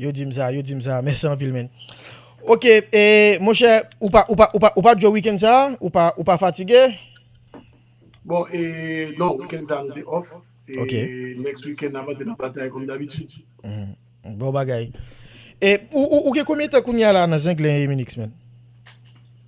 Yo dim sa, yo dim sa, mèsi anpil menn. Ok, e monchè, ou pa, ou pa, ou pa, ou pa djo weekend sa a? Ou pa, ou pa fatige? Bon, e, non, weekend sa a nou te off. Ok. E next weekend nap antre nan batay kòm dabitud. Humm, bon bagay. E, ou, ou, ou gen konbyen tan kounyea la nan Zenglen e Eminix menn?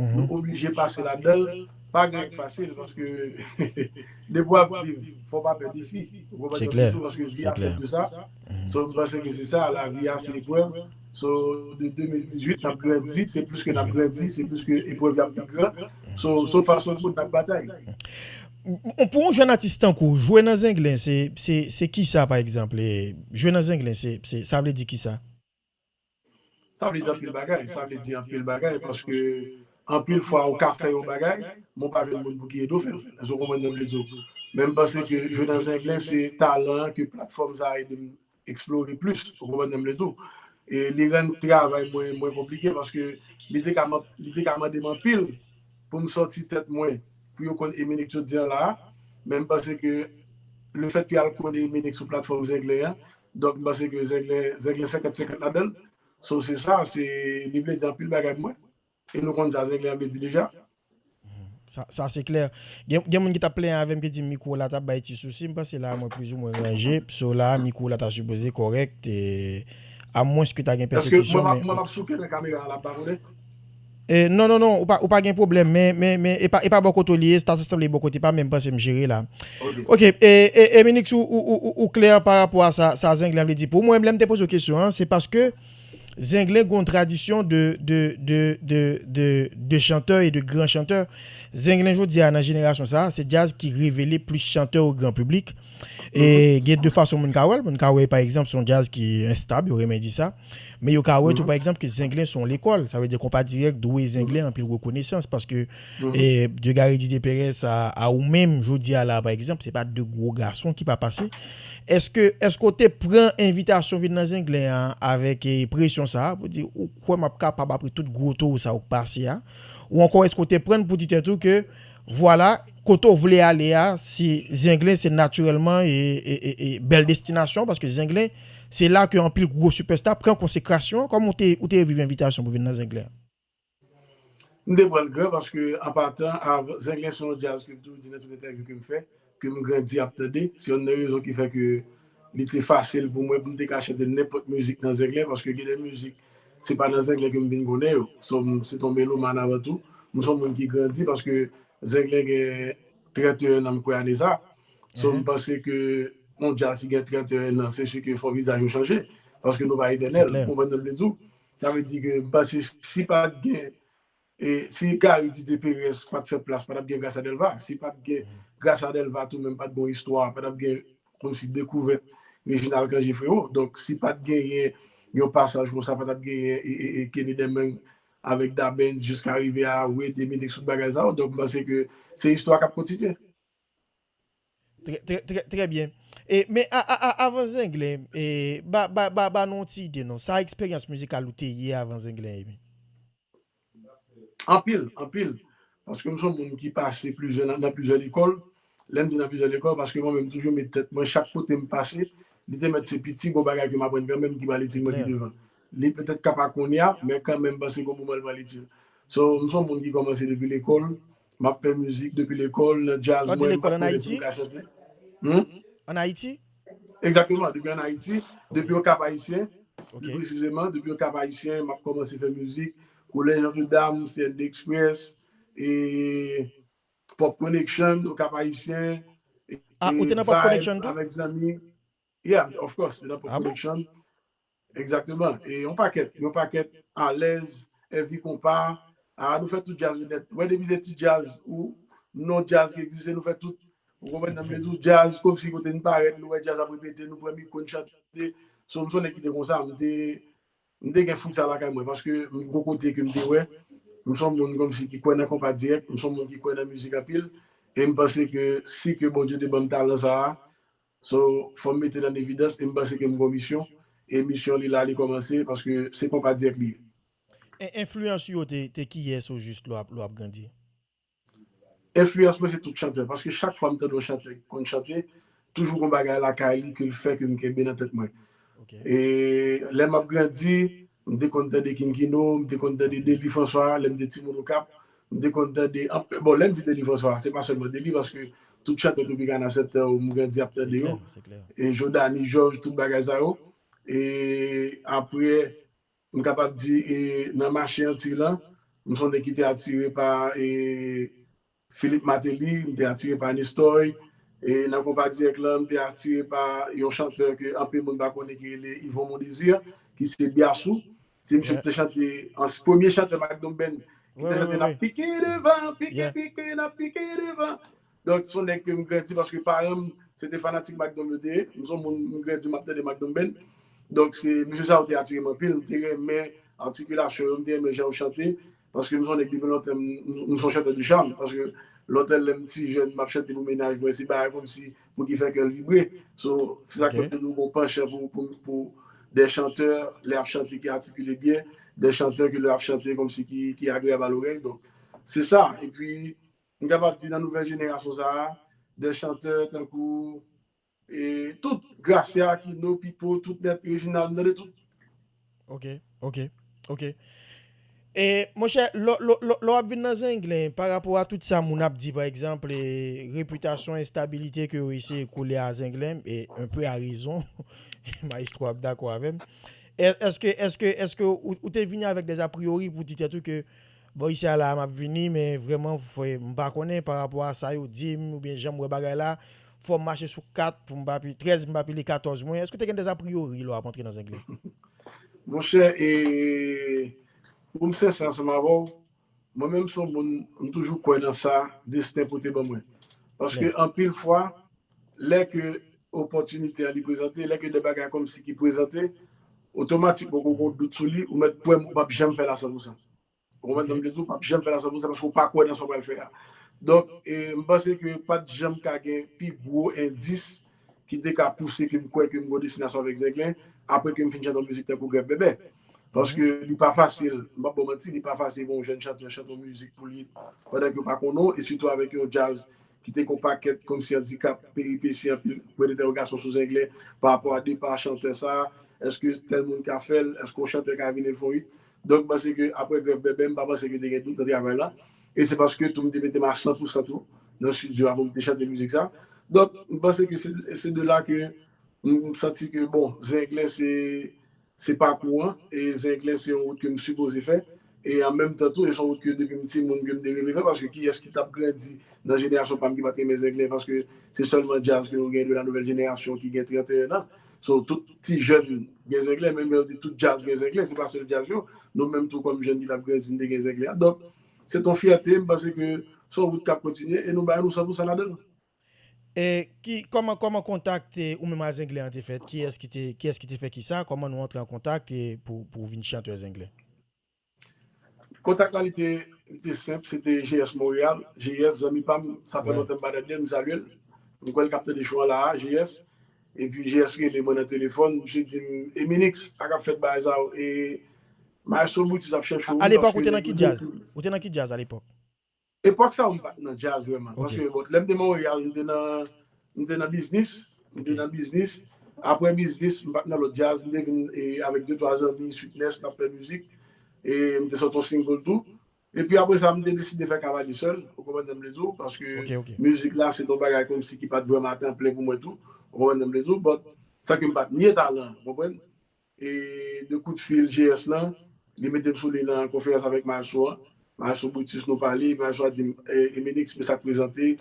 Nou oblije pase ladan l, pa gen fasil paske depi w ap viv fò w pa pè defi, ou konprann mwen toujou paske vi a fèt de sa, so m panse ke se sa lavi a se eprèv, so de 2018 n ap grandi, se plis ke n ap grandi se plis ke eprèv yo ap pi gran, so so fa so goud n ap batay. Pou yon jèn atis tankou w jwe nan zenglen se kisa pa egzanp, jwe nan zenglen se sa vle di kisa? Sa vle di anpil bagay. Sa vle di anpil bagay paske anpil fwa ou ka fè yon bagay men ou pa jwenn moun pou ki ede w fè l. Èske w konprann sa m vle di w? Men m panse ke jwe nan zenglen se talan an ke platfòm sa a ede m eksplore plis. Ou konprann sa m vle di w? E li rann travay mwen mwen konplike paske li te ka li te ka mande m anpil pou m sòti tèt mwen pou yo konn Eminex jodi an la a. Men m panse ke lefèt ke y al konnen Eminex sou platfòm zenglen an Donk m panse ke zenglen zenglen 50 50 ladanl so se sa se li vle di anpil bagay pou mwen e nou konn sa zenglen an vle di deja. Sa sa se klè. Gen gen moun ki tap plenyen avèm ki di mikwo la tap bay ti sousi, m panse la mwen plizoumwen ranje, so la mikwo la ta sipoze kòrèk, e amwens ke ta gen Eske pèsekisyon mwen men mwen map souke nan kamera a la m pa konnen? Non non non ou pa gen pwoblèm men men e pa bò kote w li ye sa ta sanble bò kote pa m men m panse m jere la ok Eminix ou klè pa rapò a sa Zenglen vle di pou mwen lè m te poze w kesyon an se paske Zenglen gon tradisyon de de de de de de chantè e de gran chantè Zenglen jodi a nan jenerasyon sa se djaz ki revele plis chantè o gran piblik e gen de fason moun ka wè l moun ka wè pa egzanp se yon djaz ki enstab yo renmen di sa. Men yo ka wè tou pa egzanp ke Zenglen se yon lekòl, sa vle di Konpa Dirèk dwe Zenglen anpil rekonesans paske de Gary Didier Perez a ou menm jodi a la pa egzanp se pa de gwo gason ki pa pase. Eske eske ou te pran envitasyon vin nan Zenglen an avèk presyon sa a pou di ou kwè m ap kapab apre tout gwo towo sa ou k pase a? Ou ankò eske ou te pran n pou di tèt ou ke Vwala, kote w vle ale a, se Zenglen se natirèlman bèl destinasyon w paske Zenglen se la ke anpil gwo sipèsta pran konsekrasyon. Kòman w te ou te reviv envitasyon pou vin nan Zenglen an? M te pran l gran paske an patan, Zenglen se yon djaz ke m toujou di nan tout entèvyou ke m fè, ke m grandi ap tande, se yonn nan rezon ki fè ke li te fasil pou mwen pou m te ka chante nenpòt mizik nan zenglen, paske gen de mizik se pa nan zenglen ke m vin konnen yo, so m se ton melomàn avan tou, m son moun ki grandi paske zenglen gen 31 nan m kwè ane sa, so m panse ke yon djaz ki gen 31 nan se si ke fò vizaj yo chanje, paske nou pa etènèl, ou konprann sa m vle di w, sa vle di ke m panse si pat gen E si Gary Didier Perez pat fè plas patap gen Gracia Delva, si pat gen Gracia Delva tou menm pat gon istwa, patap gen komsi dekouvèt Reginald Cangé freo, donk si pat genyen yon pasaj konsa patap genyen Kenny Deming avèk Da Benz jiska rive a Wade e Minix tout bagay sa yo, donk m panse ke se istwa kap kontinye. Trè trè trè trè byen e men a a a avan zenglen e ba ba ba ba nou yon ti ide non sa eksperyans mizikal ou te ye avan zenglen emi. Anpil anpil paske m son moun ki pase plizyè nan nan plizyè lekòl lè m di nan plizyè lekòl paske mwen menm m toujou met tèt mwen chak kote m pase li te mèt se piti bon bagay ke m aprann kanmenm ki prale ti mwen pi devan Li petèt ka pa kounye a, men kanmenm pase gon moman li pral itil. So, m son moun ki kòmanse depi lekòl, m ap fè mizik depi lekòl, nan djaz mwen, m pa t konnen si m ka chante. Hum? An Ayiti? Egzakteman, depi an Ayiti, depi Okap Ayisyen, pi presizeman, depi Okap Ayisyen, m ap kòmanse fè mizik, Kolèj Notre Dame, CND Express, e Pop Connection, Okap Ayisyen, e Vibe avèk zanmi. Yeah, of course, m te nan Pop Connection. Egzakteman e yon pakèt yon pakèt alèz èvi konpa aa nou fè tout djaz yo nèt wè depi se ti djaz ou non djaz ki egziste nou fè tout ou konprann sa m vle di w djaz komsi kote n parèt nou wè djaz ap repete nou pran mikwo n chante so m s on nèg ki te konsa m te m te gen fouk sa lakay mwen paske m gon kote ke m te wè m s on moun komsi ki kwè nan konpa dirèk m s on moun ki kwè nan mizik anpil e m panse ke si ke Bondye te ban m talan sa a So fòm metel an evidans e m panse ke m gon misyon e misyon li la li kòmanse paske se konpa direct li ye. E enfliyans ou yo te kiyès o jis lè w ap grandi? Enfliyans mwen se tout chantè paske chak fwa m tande yon chantè ki konn chante toujou gon bagay lakay li ke l fè ke m kenbe nan tèt mwen e lè m ap grandi M te konn tande King Kino, m te konn tande Dely François lè m te timoun Okap. M te konn tande anpil, bon lè m di Dely François se pa sèlman Dely paske tout chantè Tropicana 7 tan yo m grandi ap tande yo, e Jodhanie Georges tout bagay sa yo. E aprè m kapab di e nan mache Antiy lan m s on nèg ki te atire pa e Philippe Martelly, m te atire pa Nestoy, e nan konpa dirèk lan m te atire pa yon chantè ke anpil moun pa konnen ki rele Yvon Mon Désir, ki se Biassou. Se misye ki te chante, premye chantè Magnum Band ki te chante Nap pike devan, pike, pike, nap pike devan. Donk se yon nèg ke m grandi paske paran m se te fanatik Magnum yo te ye. M se yon moun m grandi m ap tande Magnum Band. Donk se misye sa yo te atire m anpil. M te renmen atikilasyon yo, m te renmen jan yo chante. Paske m son nèg depi lontan m son chantè de charme paske lontan lèm ti jèn map chante pou mennaj mwen se bagay komsi pou ki fè kèl vibre so se sak fèm toujou gon panchan pou des chanteurs lè yap chante ki atikile byen des chanteurs ke lè yap chante komsi ki agreyab a lorèy donk se sa epi m kapab di nan nouvèl jenerasyon sa des chanteurs tankou. Tout, Gracia, Aquino, Pipo, tout nèt Reginald m tande tout. Ok ok ok e monchè lò lò lò ap vin nan zenglen pa rapò a tout sa moun ap di pa egzanp e repitasyon enstabilite ke yo eseye kole a zenglen e un peu a rezon maestro ap dakò avèm èske èske èske ou te vini avèk des apriori pou di tèt ou ke bon isi a la a map vini men vrèman m pa konnen pa rapò a sa yo dim oubyen janm wè bagay la Fò m mache sou 4 pou m pa pi 13 m pa pile 14 mwen. Èske w te gen des a priori lè w ap antre nan Zenglen? Monchè, e, pou m sensè ansanm avè w, mwen menm m se yon moun, m toujou kwè nan sa desten pote ban mwen. Paske anpil fwa, lè ke opòtinite an li prezante, lè ke de bagay kòmsi ki prezante, otomatikman ou gen yon dout sou li, ou mèt kwè m ou p ap janm fè l a sanpousan. Ou konprann sa m vle di w? Ou pap janm fè l a 100 pousan paske ou pa kwè nan sa w pral fè a. Donk, m panse ke pat janm ka gen pi gwo endis ki te ka pouse ke m kwè ke m gen yon destinasyon avèk Zenglen apre ke m fin chante yon mizik tankou Grèf Bèbè. Paske li pa fasil, m pap ba w manti, li pa fasil pou yon jèn chantè chante yon mizik pou li pandan ke yo pa konnen w e sitou avèk yon djaz ki te gen yon pakèt komsi andikap, peripesi, anpil pwen dentèwogasyon sou Zenglen pa rapò a depa chantè sa a, èske tèl moun ka fè l, èske yon chantè ka vini l fè yon it? Donk m panse ke aprè grèv bèbè m pa panse ke te gen dout nan travay la e se paske tou m te mete m a 100 pou 100 tou nan studio a pou m te chante mizik sa. Donk m panse ke se de la ke m santi ke bon Zenglen se pakou an e Zenglen se yon wout ke m sipoze fè e an menm tan tou e se yon wout ke depi m timoun ke m te reve fè paske kiyès ki t ap grandi nan jenerasyon pa m ki pa t renmen Zenglen paske se sèlman djaz ke nou gen de la nouvèl jenerasyon ki gen 31 an So tout ti jèn gen zenglen menm yo di tout djaz gen zenglen se pa sèl djaz yo nou menm tou kòm jèn ki tap grandi nou te gen zenglen an donk se t on fyète m panse ke s on wout kap kontinye e nou bay nou san pou sa ladann. E ki kòman kòman kontak te ou menm a zenglen an te fèt kiyès ki te kiyès ki te fè kisa kòman nou antre an kontak e pou pou w vin chanteur zenglen. Kontak la li te li te senp se te GS Montréal, GS zanmi pa m sa fè lontan m pa tande l m salye l, m kwè l k ap tande show an la a GS, epi GS rele mwen nan telefòn misye di m Eminix sa k ap fèt bagay sa yo e Maestro Brutus ap chèche w wi paske nèg yo di w pou l. Alepòk ou te nan ki djaz? Ou te nan ki djaz alepòk? Epòk sa yo m pat nan djaz vrèman paske bon lè m te Monreyal m te nan m te nan biznis m te nan biznis aprè biznis m pat nan lòt djaz m te vin avèk de twa zanmi Sweetness n ap fè mizik e m te sòti yon single tou epi aprè sa m te deside fè Cavalier sèl ou konprann sa m vle di w paske mizik la se t yon bagay kòmsi ki pat vrèman a tan plen pou mwen tou ou konprann sa m vle di w but sa ke m pat nye talan ou konprann E de kout fil GS lan, li mete m sou liy nan konferans avèk Marceau an. Marceau Brutus nou pale, epi Marceau a di m, Emelix, men sa k prezante,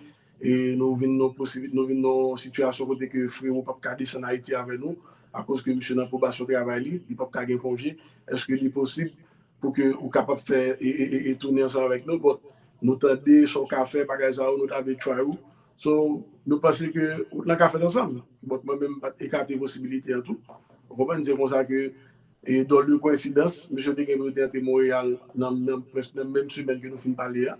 e nou vin nan yon nou vin nan yon sitiyasyon kote ke Frero p ap ka desann Ayiti avè nou, akoz ke misye nan pwobasyon travay li, li p ap ka gen konje. Èske li posib pou ke ou kapab fè e tounen ansanm avèk nou? Bon, nou tande sa w ka fè, bagay sa yo, nou ta vle try ou. So, nou panse ke wout lan ka fèt ansanm. Bon, mwen menm m pa t ekate posibilite an tou. Ou konprann? Se konsa ke, e dòle de koensidans, mesye te gen pou yo te antre Monreyal nan prèske nan menm semèn ke nou fin pale a.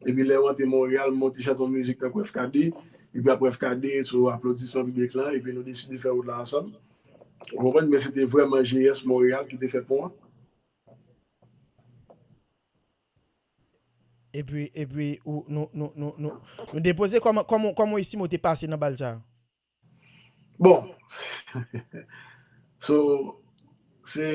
Epi lè yo antre Monreyal, m monte chante yon mizik tankou FKD, epi apre FKD, sou aplodisman piblik lan, epi nou deside fè wout lan ansanm. Ou konprann? Men se te vrèman GS Monreyal ki te fè pon an. Epi epi ou nou nou nou nou nou depoze kòman kòman kòman ou estime ou te pase nan bal sa? Bon so se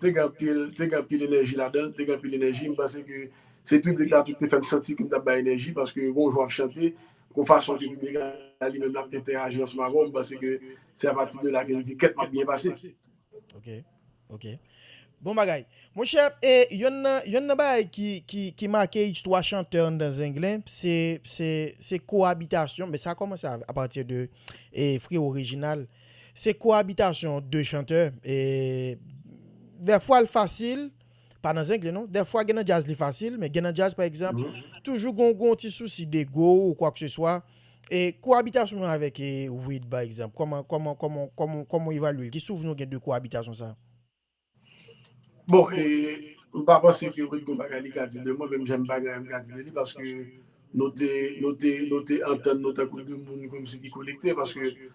te gen anpil te gen anpil enèji ladan l te gen anpil enèji m panse ke se piblik la tou ki te fè m santi ke m t ap bay enèji paske gon jou w ap chante gon fason ke piblik la li menm l ap entèyaji ansanm avè w m panse ke se apati de la ke m di kèt m ap byen pase. Ok. Bon bagay. Monchè, e yonn nan, yonn nan bagay ki, ki, ki make istwa chantè anndan Zenglen, se, se, se koabitasyon, men sa kòmanse a pati de e Frewo Rejinal. Se koabitasyon 2 chantè e dèfwa l fasil pa nan zengle non dèfwa gen nan djaz li fasil men gen nan djaz pa egzanp toujou gon gon ti sousi dego ou kwak se swa e koabitasyon nou avèk e wid pa egzanp kòman kòman kòman kòman kòman ou evalye l ki souvni ou gen de koabitasyon sa? Bon e m pa panse ke wid gon bagay li ka di de mwen menm jan m pa gen anyen m ka di de li paske nou te nou te nou te antann nou tankou de moun kòmsi ki konekte paske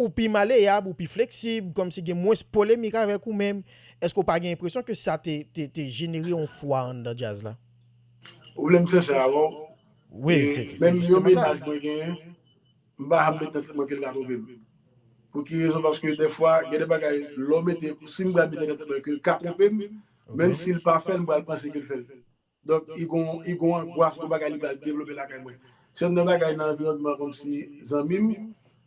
Ou pi maleyab, ou pi fleksib, kòmsi gen mwens polemik avèk ou men èske ou pa gen enpresyon ke sa te jenere yon fwa anndan djaz la? Ou vle m sensè avè w? Wi, se jistèman sa. Menm yon mennaj mwen genyen, m pa janm mete nan tèt mwen ke l ka twonpe m. Pou ki rezon? Paske dèfwa gen de bagay lè w mete, si m pral mete nan tèt mwen ke l ka twonpe m, menmsi l pa fè l m pral panse ke l fè l. Donk i gon i gon angwas pou bagay li pral devlope lakay mwen. Se youn nan bagay nan anviwònman kòmsi zanmi m,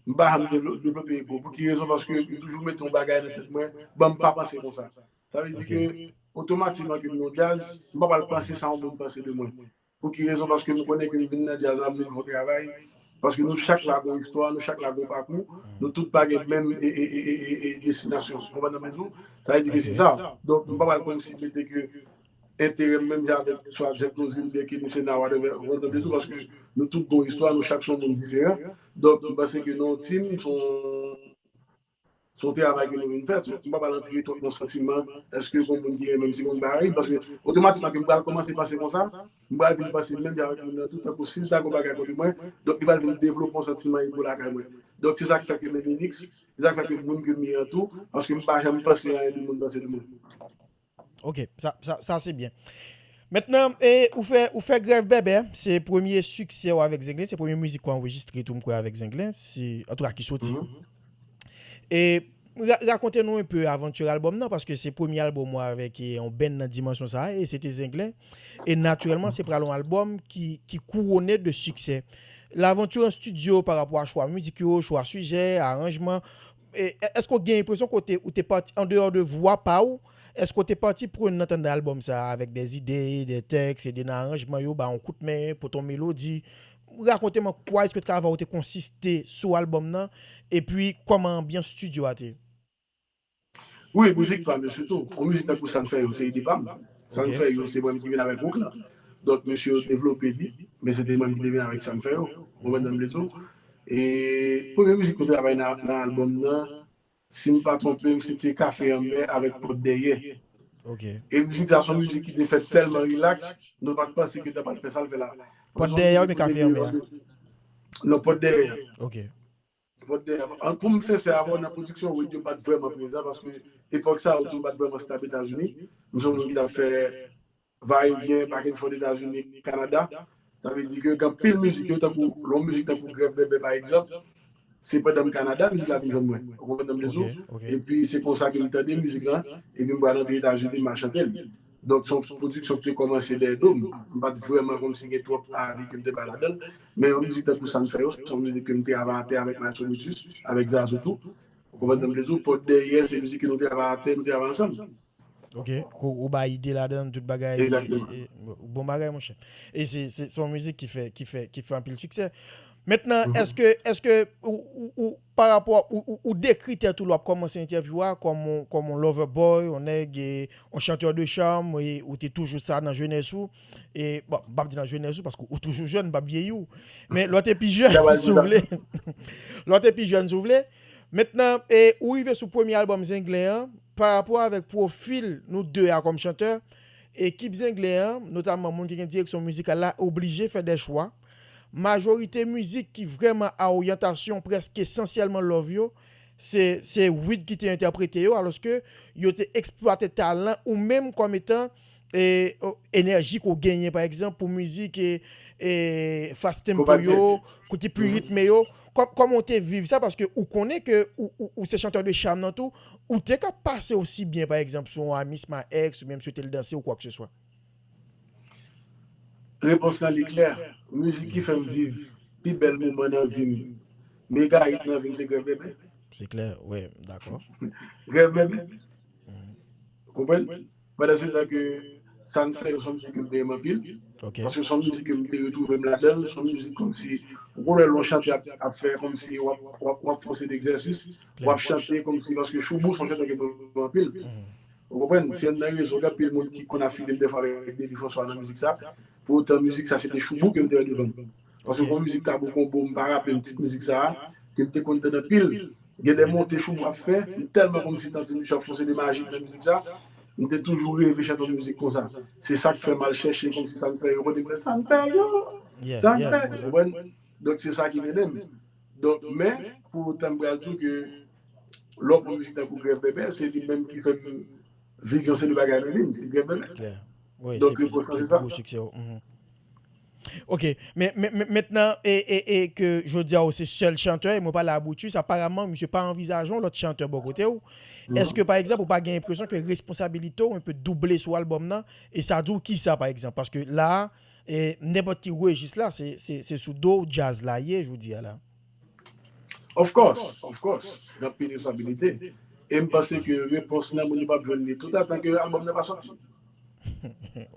m pa janm devlo devlope ego. Pou ki rezon? Paske m toujou mete yon bagay nan tèt mwen, bon m pa panse konsa. Sa vle di ke Ok. otomatikman ke m yon djaz, m pa pral panse sa yon moun panse de mwen. Pou ki rezon? Paske m konnen ke m vin nan djaz la, m vin fè yon travay, paske nou chak la gon istwa, nou chak la gon pakou, nou tout pa gen menm e e e e e destinasyon. Ou konprann sa m vle di w? Sa vle di ke Ok. se sa. Donk m pa pral kòmsi mete ke enterèm menm jan avèk istwa Jack Lozil, Berkinis e Nawad anvè Vandòme tou paske nou tout gon istwa, nou chak se yon moun diferan. Donk m panse ke nan yon team se yon travay ke nou vin fè. M pa pral antre twòp nan santiman èske gon moun ki renmenm ti moun pa renmenm paske otomatikman ke m pral kòmanse panse konsa, m pral vin panse menm jan avèk moun nan tou tankou si l ta gon bagay kont mwen donk li pral vin devlope yon santiman ego lakay mwen. Donk se sa k fè ke menm Minix, se sa k fè ke moun ke m ye an tou paske m pa janm panse anyen de moun panse de mwen. Ok sa se byen. Mentnan ou fè grèv bèbè se premye siksè ou avèk zenglen se premye mizik ou anrejistre tou m kwè avèk zenglen antouka ki soti. E rakonte nou enpe aventure album nan paske se premye album ou avèk yon band nan dimansyon sa e se te zenglen e natirèlman se pral yon album ki kouwone de siksè. L'aventure en studio parapò a chwa mizik yo, chwa sijè, aranjman. Èske w gen enpresyon ke w te ou te pati andeyò de vwa pa ou? Èske w te pati prenn nan tande albòm sa a avèk des ide, des tèks, ede nan aranjman yo, ba yon kout men, pote yon melodi? Rakonte m an kwa èske travay ou te konsiste sou albòm nan epi kòman anbyans studio a te? Wi, mizik pa m yo sitou. Yon mizik tankou Sa n fè yo se ide pa m. Sa n fè yo se mwen menm ki vin avèk hook lan. Donk mesye yo devlope li, men se te mwen menm ki te vin avèk Sa n fè yo. Ou konprann sa m vle di w? E premye mizik ou travay nan album nan sim pa twonpem se te kafe anmè avèk pòt dèyè e mizik sa son mizik ki te fèt tèlman relax nou pat panse ke ta pral fè sal fè la pòt dèyè a oubyen kafe anmè a? Non pòt dèyè a pòt dèyè a poum sensè avèw nan pwodiksyon wid yo pat vrèman prezan paske epòk sa yo tou pat vrèman stab etazini m son moun ki tap fè va e vyen back and forth Etazini, Kanada, sa vle di ke gen anpil mizik yo tankou yon mizik tankou Grèv Bèbè pa egzanp, se pandan m Kanada mizik la vin jwenn mwen, ou konprann sa m vle di w, epi se konsa ke m tande mizik la, epi m pral antre Etazini m al chante l. Donk se yon pwodiksyon ki te kòmanse dèyè do m, m pa t vrèman kòmsi gen twòp avi ke m te bay ladan l, men yon mizik tankou Sa n fè yo, se yon mizik ke m te ava atè avèk Maestro Brutus, avèk Zazou tou, ou konprann sa m vle di w, Pòt dèyè se mizik ke nou te ava atè, nou te ava ansanm. Ok kou ou bay ide ladann tout bagay bon bagay monchè e se se son mizik ki fè ki fè ki fè anpil siksè mentnan eske eske ou pa rapò ou dekri tèt ou lwa kòmanse entèvyou a kòm on kòm on lòvè bòy on nèg e on chantè de chàm e ou te toujou sa nan jenès ou e bon m pap di nan jenès ou paske ou toujou jèn m pap vyeyi ou men lò te pi jèn si w vle lò te pi jèn si w vle mentnan e ou rive sou premye albòm zenglen an. Pa rapò avèk pwofil nou 2 a kòm chantè, ekip Zenglen an, notamman moun ki gen direksyon mizikal la, oblije fè dè chwa. Majorite mizik ki vrèman a oryantasyon prèsk esansyèlman love yo, se se Wid ki te entèprete yo, alòske yo te eksplwate talan ou menm kòm etan Enèji ke w genyen pa egzanp pou mizik fast tempo yo, ki pli ritme yo, kòman w te viv sa paske ou konnen ke ou se chanteur de charme nan tou, ou te ka pase osi byen pa egzanp sou yon Amis ma ex ou byen mswete l danse ou kwa ke se swa? Repons lan li klè, mizik ki fè m viv pi bèl moman nan vi m, mega hit nan vi m se Grèv Bebe. Se klè, wi, m dakò. Grèv Bebe, ou konprann? Pandan se tan ke sa n fè yo son mizik ke m te renmen anpil. Paske son mizik ke m te retwouve m ladan l, son mizik kòmsi ou konn wè lè w chante ap fè kòmsi w ap fòse degzèsis, w ap chante kòmsi paske Shoubou son chantè ke m renmen anpil. Ou konprann? Se yonn nan rezon gen anpil moun ki konn afile m dèfwa avèk Deby François nan mizik sa. Pou otan mizik sa se te Shoubou ke m te wè devan m. Paske gon mizik Tabou Combo m pa raple m tit mizik sa ke m te konn tand anpil gen de monte chou m ap fè m tèlman konn si tand se misye ap fonse de majik nan mizik sa m te toujou reve chante yon mizik konsa se sak fè m al chèche konn si sak fè yo konnen mwen sak fè yo sak fè ou konprann donk se sa ki mennen m donk men pou otan m pral di w ke lè w pran mizik tankou Grèv Bèbè se li menm ki fè m viv yon seri de bagay nan vi m se Grèv Bèbè donk reproch lan se sa. Ok men mentnan e ke jodi a ou se sèl chantè e mwen pale a Brutus aparamman misye pa anvizaje yon lòt chantè bò kote ou eske pa egzanp ou pa gen enpresyon ke responsabilite ou enpe double sou albòm nan e sa di ou kisa pa egzanp paske la a nenpòt ki rejis la se sou do ou djaz la ye jodi a la. Of course, of course, gen anpil responsablite e m panse ke repons lan moun yo pap jwenn li tout atan ke album nan pa soti.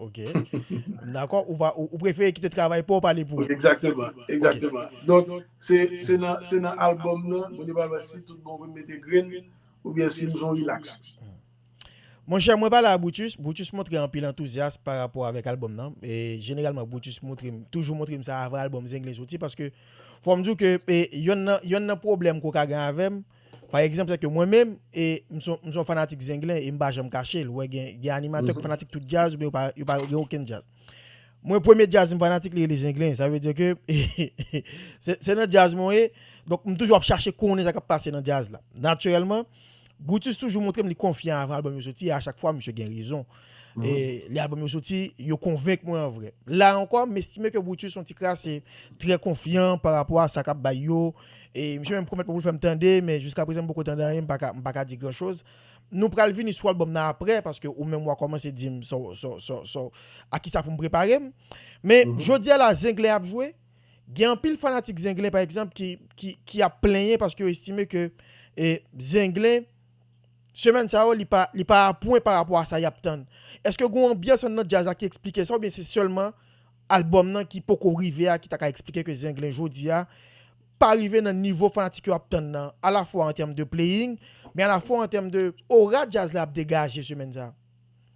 Ok. M dakò. Ou pa, ou prefere kite travay pa w pale pou ou. Egzakteman, egzakteman. Donk, se, se nan, se nan album nan moun yo pral wè si tout bon vre m mete grenn oubyen si m son relax. Monchè mwen pa la a Brutus, Brutus montre anpil antouzyas pa rapò avèk albòm nan, e jeneralman Brutus moutre m, toujou moutre m sa avan albòm Zenglen soti paske fò m di w ke e yonn nan yonn nan pwoblèm ke w ka gen avè m pa egzanp se ke mwen menm e m s on m s on fanatik Zenglen e m pa janm kache l, ou wè gen gen animatè ki fanatik tout djaz oubyen yo pa yo pa gen okenn djaz. Mwen premye djaz m fanatik li rele Zenglen sa vle di ke se se nan djaz mwen ye donk m toujou ap chache konnen sa k ap pase nan djaz la natirèlman Brutus toujou montrem li konfyan avan album yo soti e a chak fwa misye gen rezon. E lè album yo soti, yo konvenk mwen an vrè. La ankò, m estime ke Brutus yon ti kras e trè konfyan pa rapò a sa kap bay yo. E misye menm pwomèt mwen pou l fèm tande, men jiska prezan m poko tande anyen, m pa ka m pa ka di gran choz. Nou pral vini sou album nan aprè, paske ou menm wa kòmanse di m sa w sa w sa w sa w a kisa pou m prepare m. Men jodi a la Zenglen ap jwe. Gen anpil fanatik Zenglen pa egzanp ki ap plenyen paske yo estime ke Zenglen semèn sa yo li pa apwen pa rapò a sa y ap tann. Eske gen yon anbyans anndan djaz la ki esplike sa oubyen se sèlman albòm nan ki poko rive a ki ta ka esplike ke Zenglen jodi a pa rive nan nivo fanatik yo ap tann nan alafwa an tèm de playing men alafwa an tèm de ora djaz la ap degaje semèn sa a?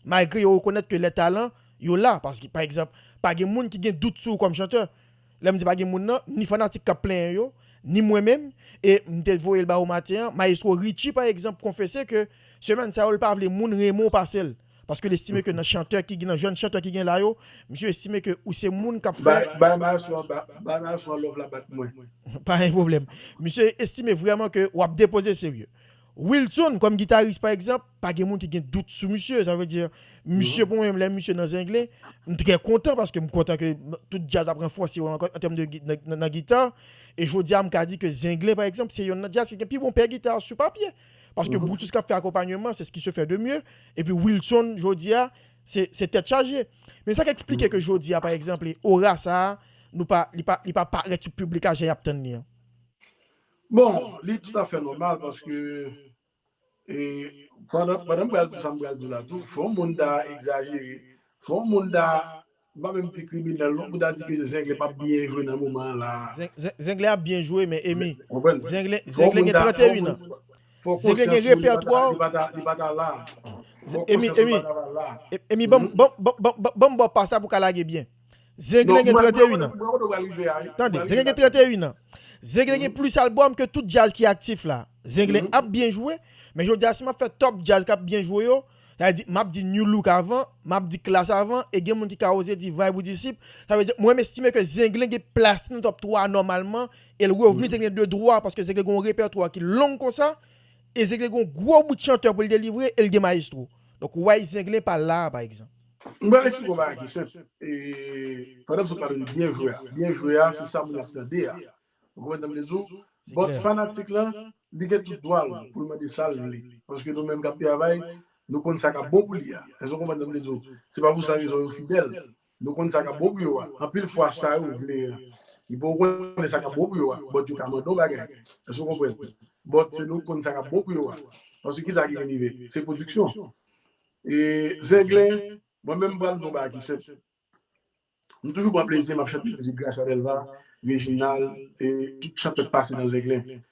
Malgre yo rekonèt ke lè talan yo la, paske pa egzanp, pa gen moun ki gen dout sou ou kòm chantè. Lè m di pa gen moun nan, ni fanatik k ap plenyen yo, ni mwen menm, e m te voye l ba ou maten an, mayestwo Richie pa egzanp konfese ke semèn sa yo l pa vle moun renmen w pase l, paske l estime ke nan chantè ki nan jèn chantè ki gen la yo, misye estime ke ou se moun k ap fè. Bay mayestwo an, bay mayestwo an love la bat mwen. Pa gen pwoblèm. Misye estime vrèman ke w ap depoze serye. Wilson kòm gitaris pa egzanp, pa gen moun ki gen dout sou misye, sa vle di misye pou mwen menm lè misye nan Zenglen, m trè kontan paske m kontan ke tout djaz ap ranfòse yo ankò an tèm de nan gita, e jodi a m ka di ke Zenglen pa egzanp se yonn nan djaz ki gen pi bon pè gita sou papye, paske Brutus k ap fè akonpanyeman se ce qui se fait de mieux, epi Wilson jodi a se tèt chaje. Men sa k eksplike ke jodi a pa egzanple ora sa a nou pa li pa li pa parèt sou piblik la jan y ap tann li an? Bon, li toutafè nòmal paske pandan m pral di sa m pral di la tou, fè yon moun ta egzajere, fè yon moun ta, m pa menm di kriminèl non, pou ta di ke Zenglen pa p byen jwe nan moman an la a. Zenglen ap byen jwe men Emy, Zenglen gen 31 an. Zenglen gen repètwa. Fè yon moun ta, li pa ta la a. Emy, Emy, Emy ban m ba w pa sa pou w ka lage byen. Zenglen gen 31 an. Tande, Zenglen gen 31 an. Zenglen gen plis albòm ke tout djaz ki aktif la. Zenglen ap byen jwe, men jodi a si m ap fè top djaz k ap byen jwe yo, sa vle di m ap di Nu Look avan, m ap di Klass avan, e gen moun ki ka oze di Vibe ou Disip, sa vle di mwen m estime ke Zenglen gen plas li nan top 3 a nòmalman, e l revni Zenglen de dwa paske Zenglen gen yon repètwa ki long konsa, e Zenglen gen yon gwo bout chantè pou l delivre, e l gen Maestro. Donk ou wè Zenglen pa la a pa egzanp. M pral eksplike w bagay ki senp e pandan m sot pale de byen jwe a, byen jwe a se sa moun ap tande a ou konprann sa m vle di w but fanatik lan li gen tout dwa l pou l mande sa l vle paske nou menm k ap travay nou konn sa k ap bon pou li a èske w konprann sa m vle di w se pa pou san rezon yo fidèl nou konn sa k ap bon pou yo a anpil fwa sa yo vle an yo poko konnen sa k ap bon pou yo a but yo ka mande yon bagay èske w konprann but se nou k konn sa k ap bon pou yo a paske kisa ki vin rive se pwodiksyon Zenglen, mwen menm m pral di w yon bagay ki senp. M toujou pran plezi m ap chante mizik Gracia Delva, Reginald e tout chantè k pase nan Zenglen.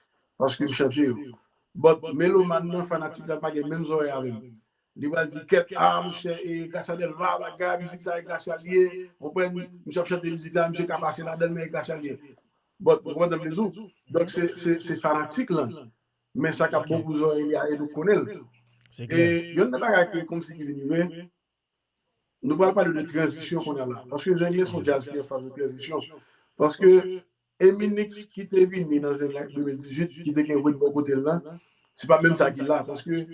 Paske m chante yo. But, melomàn nan, fanatik la pa gen menm zòrèy avè m. Li pral di kèt, ah monchè e Gracia Delva, bagay, mizik sa e Gracia l ye. Konprann? Misye ap chante mizik sa, misye ka pase ladan l men e Gracia l ye. But, ou konprann sa m vle di w? Donk se fanatik lan Men sa kap bon pou zòrèy li a e nou konnen l. E yonn nan bagay ke kòm si ki vin rive, nou pral pale de tranzisyon konnya la. Paske Zen Glen son djaz ki an fas de tranzisyon. Paske Eminix ki te vini nan Zen Glen 2018, ki te gen Wade bò kote l lan, se pa menm sa ki la. Paske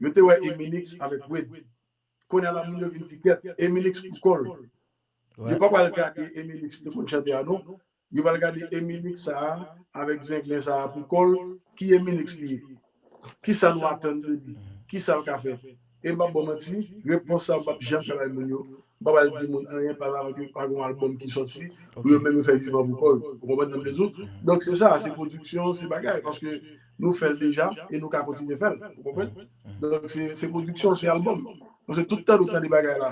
yo te wè Eminix avèk Wade. Konnya la moun yo vin di kèt, Eminix pou kò l. Yo pa pral gade Eminix te konn chante a non. Yo pral gade Eminix sa a avèk zenglen sa a pou kò l, ki Eminix li ye? Kisa nou atann de li? Kisa l ka fè? E m p ap ba w manti, repons sa a m p ap janm ka bay moun yo. M p ap al di moun anyen pa avan ke pa gen yon albòm ki sòti pou yo menm yo fè jijman pou kò yo. Ou konprann sa m vle di w? Donk se sa, se pwodiksyon, se bagay. Paske nou fè l deja e nou ka kontinye fè l. Ou konprann? Donk se pwodiksyon, se albòm. Paske tout tan nou tande bagay la.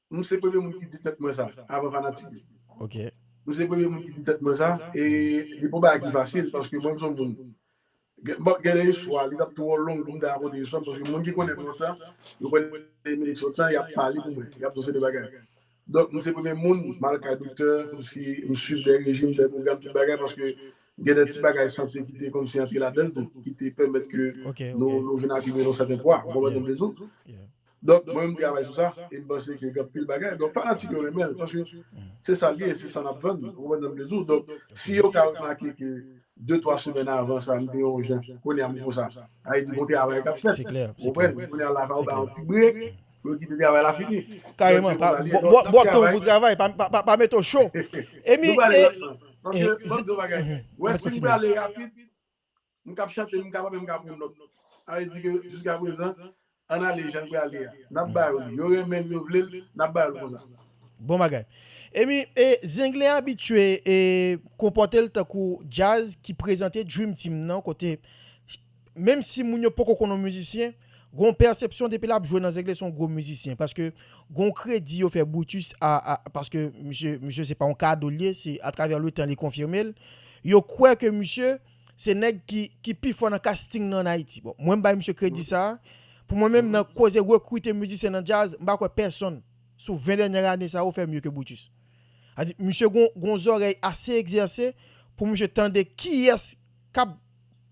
M se premye moun ki di tèt mwen sa avan fanatik yo. Ok. M se premye moun ki di tèt mwen sa e li pa yon bagay ki fasil paske mwen m se yon moun bon gen de istwa li t ap twò long pou m ta rakonte istwa m paske moun ki konnen m lontan yo konnen Emilik se yon tan y ap pale pou mwen y ap di yon seri de bagay donk m se premye moun m al kay doktè kòmsi m swiv de rejim de pwogram tout bagay paske gen de ti bagay sante ki te kòmsi antre ladan l tou ki te pèmèt ke nou vin akimile yon sèten pwa ou konprann sa m vle di w. Donk mwen menm travay sou sa e m panse ke gen anpil bagay donk fanatik yo renmen l paske se sa l ye e se sa n ap vann ou konprann sa m vle di w donk si yo ka remake ke de twa semèn avan sa m te yon jan kounye a m konsa sa vle di gon travay k ap fèt ou konprann kounye a la fò yo bay yon ti brek pou yo kite travay la fini donk se konsa l ye donk n ap travay nou prale rapman m ap di w yon bagay wè si m prale rapid. M kap chante m kapa menm ka pran nòt. Sa vle di ke jiska prezan ann ale jan l prale a. Nap ba yo li. Yo renmen l, yo vle l, nap ba yo l konsa. Bon bagay. Emy, e Zenglen abitye e konpòte l tankou djaz ki prezante Dream Team nan kote menm si moun yo poko konnen w mizisyen, gen yon pèsepsyon depi lap jwe nan Zenglen se yon gwo mizisyen paske gen yon kredi yo fè Brutus a paske misye misye se pa yon kado l ye se atravè letan li konfime l. Yo kwè ke misye. Se nèg ki ki pi fò nan casting nan an Ayiti. Bon, mwen m bay misye kredi sa. Pou mwen menm nan koze rekrite mizisyen nan djaz, m pa kwè pèsonn sou 20 dènyè ane sa yo fè mye ke Brutus. A di misye gon gon zòrèy ase egzèse pou misye tande kiyès k ap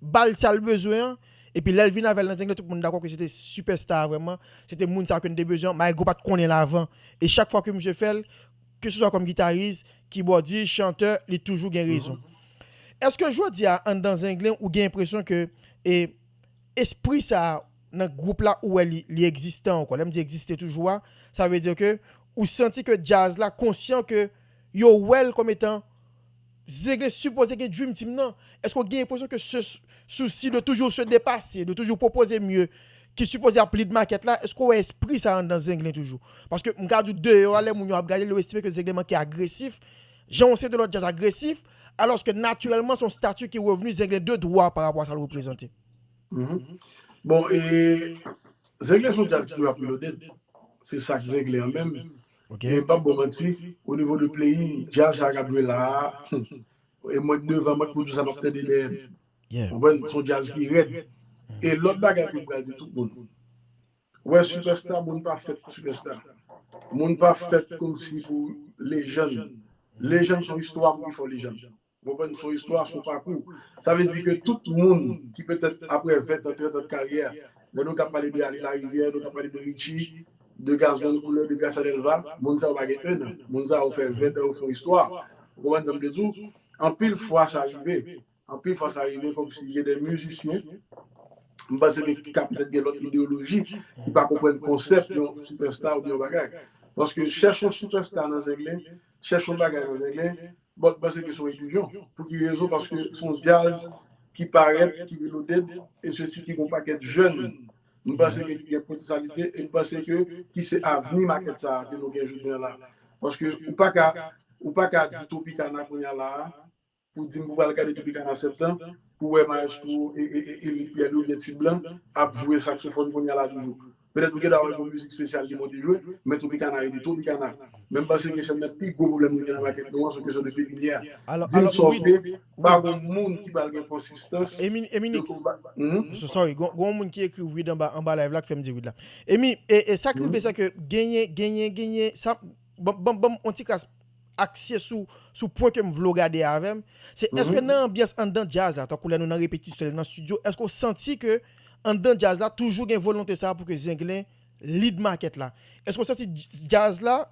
ba l sa l bezwen an epi lè l vin avè l nan zengle tout moun dakò ke se te sipèsta a vrèman, se te moun sa a ke n te bezwen an, Maegro pa t konnen l avan e chak fwa ke misye fè l, Keseswa kòm gitaris, kibòdis, chantè, li toujou gen rezon. Eske jodi a anndan Zenglen ou gen enpresyon ke e espri sa a nan gwoup la ou wè li li egzistan ankò? Lè m di egziste toujou a, sa vle di ke ou santi ke djaz la konsyan ke yo wè l kòm etan Zegle sipoze gen dream team nan, eske w gen enpresyon ke ce souci de toujours se depase, de toujou pwopoze mye ki sipoze ap lead market la, eske w wè espri sa anndan Zenglen toujou? Paske m ka di w deyò a lè moun yo ap gade l yo estime ke Zenglen manke agresif, jan yon seri de lòt djaz agresif, alòske natirèlman se yon stati ki revni Zenglen de dwa pa rapò a sa l reprezante. Bon e Zenglen se yon djaz ki rap reloaded, se sak Zenglen an menm, ok. Men pap baw manti, o nivo de playing, djazz sa kap jwe la a, humm, e mwen k devan mwen k pwodwi sa map tande dèyè m. Yeah. Konprann, son djazz ki rèd. E lòt bagay tou m pral di tout moun, wè sipèsta moun pa fèt pou sipèsta. Moun pa fèt komsi pou lejann. Lejann son istwa pou ki fè w lejann. Ou konprann son istwa, son pakou. Sa vle di ke tout moun ki petèt aprè 20 tan, 30 tan de karyè, lè nou ka pale de Aly Larivière, nou ka pale de Richie, de Gazzman Couleur, de Gracia Delva, moun sa yo pa gen 1 an. Moun sa yo fè 20 tan yo fon istwa. Ou konprann sa m vle di w? Anpil fwa sa rive. Anpil fwa sa rive kòmsi gen de mizisyen, m panse ke ki ka petèt gen lòt ideyoloji, ki pa konprann konsèp yon sipèsta oubyen yon bagay. Paske chèche yon sipèsta nan Zenglen, Chèch yon bagay nan zenglen bòt panse ke son ilizyon pou ki rezon paske son djaz ki parèt ki reloaded e sesi ki gon pakèt jèn m panse ke ki gen potesalite e m panse ke ki se avni makèt sa ke nou gen jodi an la paske ou paka ou paka di tropicana kounya la Pou dim pou pral gade Tropicana septan pou wè maestro Erick Pierre Louis oubyen Ti Blan ap jwe saksofòn kounya la toujou. Petèt ou gentan wè gon mizik spesyal li monte jwe, men Tropicana rete Tropicana. Men m panse ke sèl nan pi gwo pwoblèm nou gen nan makèt nou an se kesyon de pepiniè. Dim sa w vle, pa gon moun ki pral gen konsistans de konpa. Sorry, gon yon moun ki ekri wid anba live la ki fèm di wid la. Emy, sa k rive se ke genyen, genyen, genyen, sa, banm, banm yon ti kras. akse sou sou pwen ke m vle w gade avè m, se èske nan anbyans anndan djaz la, tankou lè nou nan repetisyon, lè nou nan stidyo, èske w santi ke anndan djaz la toujou gen volonte sa a pou ke Zenglen lead makèt la? Èske w santi djaz la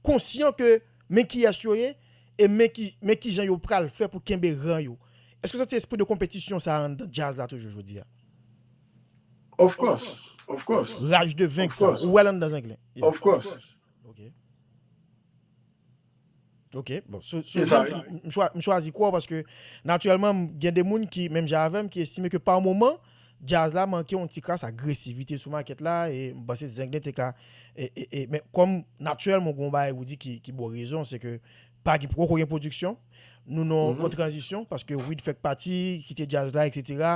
konsyan ke men kiyès yo ye e men ki men kijan yo pral fè pou kenbe ran yo? Èske w santi espri de konpetisyon sa a anndan djaz la toujou jodi a? Of course, of course. Raj de venk sa a, ou wè l anndan Zenglen? Of course. Ok. Ok, bon, sou, sou, C'est ça, oui. m chwa- m chwazi kwa paske natirèlman m gen de moun ki menm jan avèm ki estime ke pa moman jazz la manke yon ti kras agresivite sou makèt la e m panse Zenglen te ka e, e, e men kòm natirèlman gon bagay ou di ki, ki ba w rezon se ke pa gen poko gen pwodiksyon Nou nan yon tranzisyon, paske Wid fèk pati, kite djaz la, eksetera.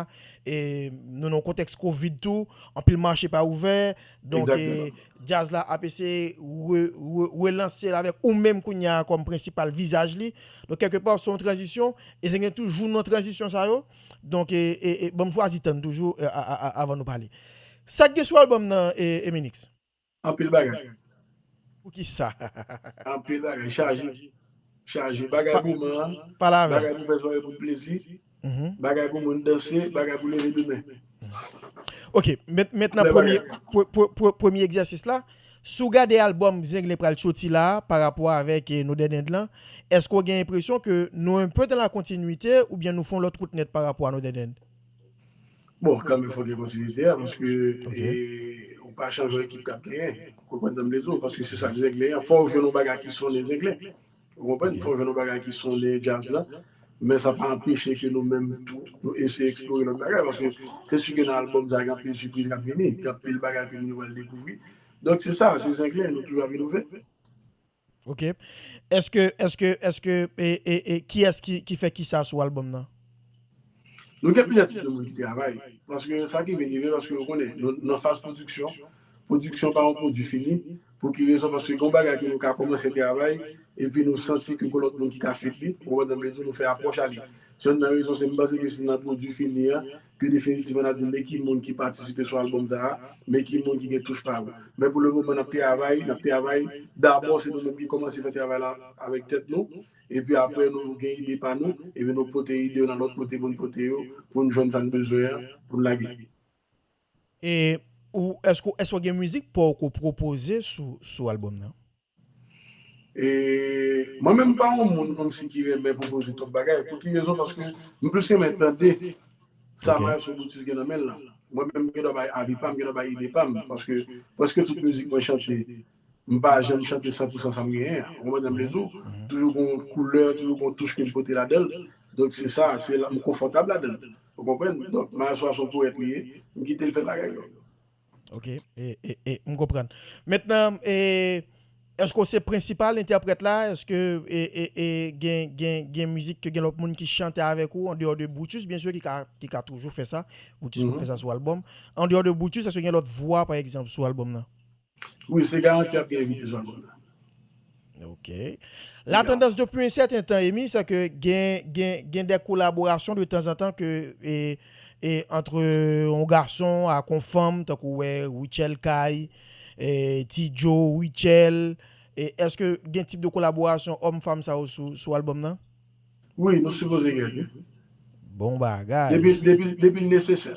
E nou nan yon kontèks kovid tou, anpil mache pa ouvè. Donk, djaz la ap eseye relanse l avèk ou menm kounya kòm prensipal vizaj li. Donk, kèlke pa, se yon tranzisyon. E Zenglen toujou nan tranzisyon sa yo. Donk, ban m chwazi tann toujou avan nou pale. Sa k gen sou albòm nan, Eminix? Anpil bagay. Pou ki sa? Anpil bagay. Chaje. Chaje. Bagay pou man an. Bagay pou fè swaye pou plezi. Bagay pou moun danse. Bagay pou leve demen. Ok. Met nan premye. Premye egzèsis la. Si w gade albòm Zenglen pral soti la a pa rapò avèk Nou Dèd End lan, èske w gen enpresyon ke nou enpe dan la kontinwite oubyen nou fon lòt wout nèt pa rapò a Nou Dèd End? Bon, kanmenm fòk gen kontinyite a, paske ou pa chanje yon ekip k ap genyen. Ou konprann sa m vle di w? Paske se sa k zenglen an. Fò w jwenn yon bagay ki sonnen zenglen. Ou konprann? Fò w jwenn yon bagay ki sonnen djaz la. Men sa pa anpeche ke nou menm tou, nou eseye eksplore lòt bagay. Paske se si ke nan albòm sa a gen anpil sipriz k ap vini. Gen anpil bagay ke moun yo pral dekouvri. Donk se sa, se zenglen. Nou toujou ap inove. Ok eske eske eske ee kiyes ki fè kisa sou album nan. Nou gen plizyè tip de moun ki travay paske sa ki vin rive paske ou konnen nou nan faz pwodiksyon, pwodiksyon pa yon pwodwi fini pou ki rezon paske gen yon bagay ke nou ka kòmanse travay epi nou santi ke gen lòt moun ki ka fit li ou konprann sa m vle di w nou fè apwòch a li se youn nan rezon se m panse ke se nan pwodwi fini an Pi definitivman nap di men ki moun ki patisipe sou album sa a, men ki moun ki gen touch pa yo. Men pou le moman nap travay, nap travay, dabò se nou menm ki kòmanse fè travay la avèk tèt nou, epi aprè nou gen ide pa nou, epi nou pote ide yo nan lòt kote pou n pote yo, pou n jwenn sa n bezwen an pou n lage. E ou, èske ou, èske ou gen mizik paw ke w pwopoze sou album nan? E mwen menm m pa yon moun kòmsi ki renmen pwopoze twòp bagay. Pou ki rezon? Paske m plis renmen tande sa Maestro Brutus gen nan men l lan. Mwen menm m gendwa bay avi pa m, m gendwa bay ide pa m. Paske prèske tout mizik mwen chante, m pa janm chante san pou san sa m genyen an. Ou konprann sa m vle di w? Toujou gen yon koulè, toujou gen yon touch ke m pote ladan l. Donk se sa, se la m konfòtab ladan l. Ou konprann? Donk Maestro a s on powèt li ye, m kite l fè bagay yo. Ok, m konprann. Mentnan, eske w se prensipal entèprèt la? Eske gen mizik ke gen lòt moun ki chante avèk ou, andeyò de Brutus byen sè, ki ka toujou fè sa, Brutus konn fè sa sou albòm. Andeyò de Brutus, eske gen lòt vwa pa egzanp sou albòm nan? Wi, se Garanti ap dirije sou albòm nan. Ok. La tandans depi un sèten tan Emmy se ke gen gen gen de kolaborasyon de tanzantan ke e e antre on gason ak on fanm tankou wè Rutshelle Kay, e Ti Joe, Rutshelle e eske gen tip de kolaborasyon òm fanm sa yo sou sou album nan? Wi nou sipoze gen wi. Bon bagay. Depi depi depi l nesesè.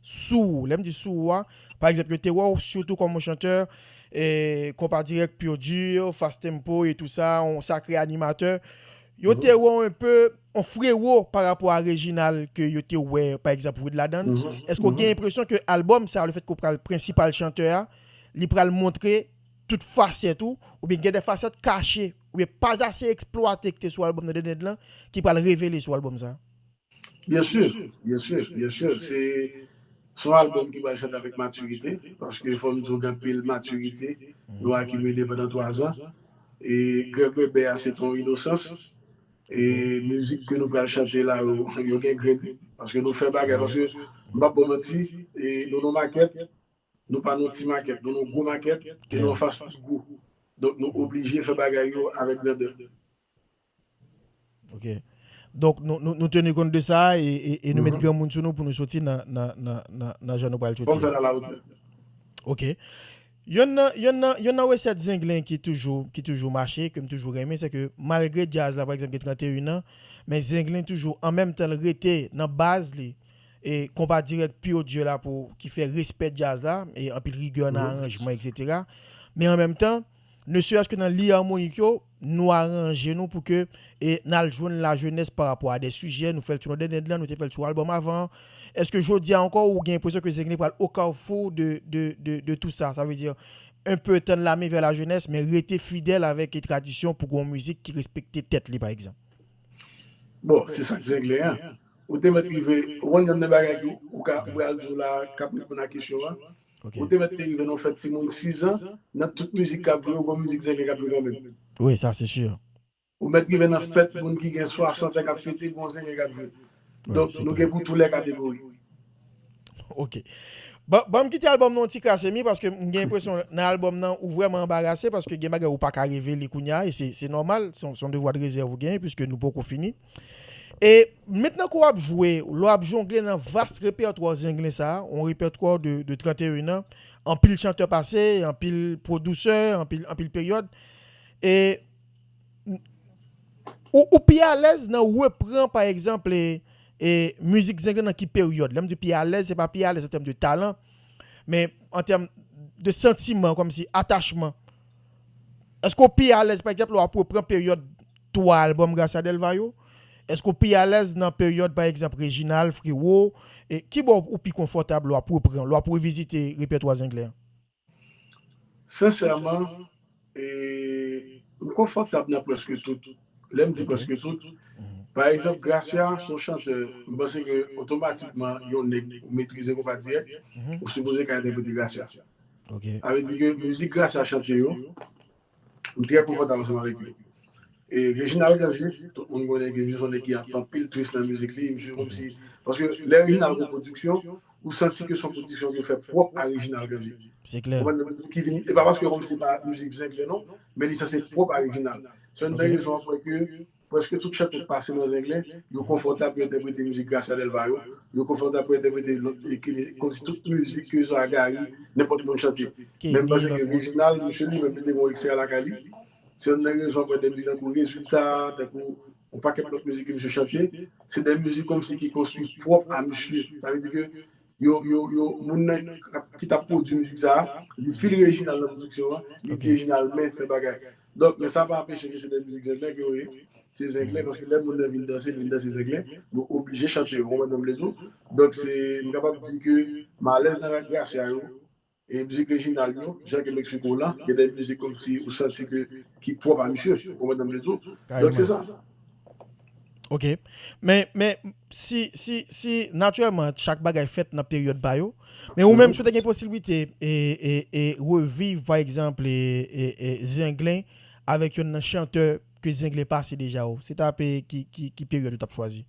sou ou. Lè m di sou ou a, pa egzanp yo te wè w sitou kòm yon chantè konpa dirèk pur dur, fast tempo e tou sa, yon sakre animatè. Yo te wè w enpe yon frewo pa rapò a Reginald ke yo te wè pa egzanp Wid ladan l. Èske w gen enpresyon ke albòm sa a, lefèt ke w pral prensipal chantè a, li pral montre tout fasèt ou, oubyen gen de fasèt kache, oubyen pas assez exploite ki te sou albòm nan Dendend lan ki pral revele sou albòm sa a? Bien sûr, bien sûr, bien sûr se son album ki pral chante avèk maturité paske fòm diw gen anpil maturité nou akimile pandan 3 zan e grèg bèbè a se ton inosans e mizik ke nou pral chante la yo yo gen grenn paske nou fè bagay paske m pap baw manti e nou non makèt nou pa non ti makèt nou non gwo makèt e nou anfas tout gwo donk nou oblije fè bagay yo avèk grandè. Ok. Donk nou nou nou tenu kont de sa e e nou met granmoun sou nou pou nou soti nan nan nan nan nan jan nou pral soti. Fòk fèl ala wotè. Ok. Yonn nan yonn nan yonn nan resèt zenglen ki toujou ki toujou mache ke m toujou renmen se ke malgre djaz la pa egzanp gen 31 an men zenglen toujou an menm tan l rete nan baz li e konpa dirèk pure Dieu la pou ki fè respè djaz la e anpil rigè nan aranjman eksetera men an menm tan ne seyès ke nan liy armonik yo Nou aranje nou pou ke n al jwenn lajenès pa rapò a de sijè, nou fè l sou Nòdèn End lan, nou te fè l sou albòm avan an. Èske jodi a ankò ou gen enpresyon ke Zenglen pral o kawfou de tou sa? Sa vle di, un peu tann la men vè lajenès, men rete fidèl avèk tradisyon pou gen yon mizik ki respekte tèt li pa egzanp? Bon, se sa k Zenglen an. Ou te mèt rive, ou konn yonn nan bagay ke ou ka, ou pral di w la, k ap reponn a kesyon an, Ok. Ou te mèt te rive nan yon fèt timoun 6 ans, nan tout mizik kap jwe yo gon mizik zenglen kap jwe kanmenm. Wi sa se sûr. Ou mèt rive nan fèt moun ki gen 60 ans kap fete gon zenglen kap jwe. Donk nou gen pou tou lè kategori. Ok. Bon banm kite album nan yon ti kras Emmy paske m gen enpresyon nan album nan ou vrèman anbarase paske gen bagay ou paka revele kounya e se se nòmal son devwa de rezèv ou genyen puiske nou poko fini. E mentnan ke w ap jwe, lè w ap jongle nan vas repètwa zenglen sa, yon repètwa de 31 an, anpil chantè pase, anpil pwodusè, anpil peryòd, e ou pi alèz nan repran pa egzanp mizik zenglen nan ki peryòd? Lè m di pi alèz, se pa pi alèz an tèm de talan, men an tèm de santiman, kòmsi atachman. Èske w pi alèz pa egzanp lè w ap repran peryòd 3 albòm Gracia Delva yo? Èske w pi alèz nan peryòd pa egzanp Reginald, Frero? Ki bò ou pi konfòtab lè w ap repran, lè w ap revizite repètwa Zenglen an? Sensèman, m konfòtab nan prèske tout. Lè m di prèske tout, pa egzanp Gracia se yon chantè, m panse ke otomatikman yon nèg ou metrize konpa dirèk, ou sipoze ka entèprete Gracia. Ok. Sa vle di ke mizik Gracia chante yo, m trè konfòtab ansanm avèk li. E Reginald Cange, tout moun konnen ke misye s on nèg ki ap fè anpil twist nan mizik li, misye kòmsi, paske lè Reginald gon pwodiksyon, ou santi ke s on pwodiksyon ke l fè pwòp a Reginald Cange. Se klè. Ou konprann? Ki vin, e pa paske kòmsi se pa mizik Zenglen non, men li sanse pwòp a Reginald. Se youn nan rezon an k fè ke. Prèske tout chante k pase nan Zenglen, yo konfòtab pou entèprete mizik Gracia Delva yo, yo konfòtab pou entèprete lòt ekile kòmsi tout mizik ke swa Gari, nenpòt moun chante. Menm panse ke Reginald, misye li menm li te gen yon ekstra lakay li, se yonn nan rezon apre de mizik tankou Rezilta, tankou yon pakèt lòt mizik ke misye chante, se de mizik kòmsi ki konstwi pwòp a misye. Sa vle di ke yo, yo, yo, moun nan ki t ap pwodui mizik sa a, li fil Reginald nan pwodiksyon an, li di Reginald men fè bagay. Donk men sa pa anpeche ke se de mizik zenglen ke yo ye. Se zenglen paske lè moun nan vin danse, li vin danse zenglen. Nou oblije chante yo, konprann sa m vle di w? Donk se, m kapab di ke Malèz nan Rak Gracia yo, e mizik Reginald yo, jan ke Mexico lan, gen de mizik kòmsi ou santi ke ki pwòp a misye. Ou konprann sa m vle di w? Donk se sa. Ok men men si si si natirèman chak bagay fèt nan peryòd pa yo men ou menm si ou te gen posiblite e e e reviv pa egzanp e e e zenglen avèk yonn nan chantè ke zenglen pase deja ou se ta pe ki ki ki peryòd ou tap chwazi?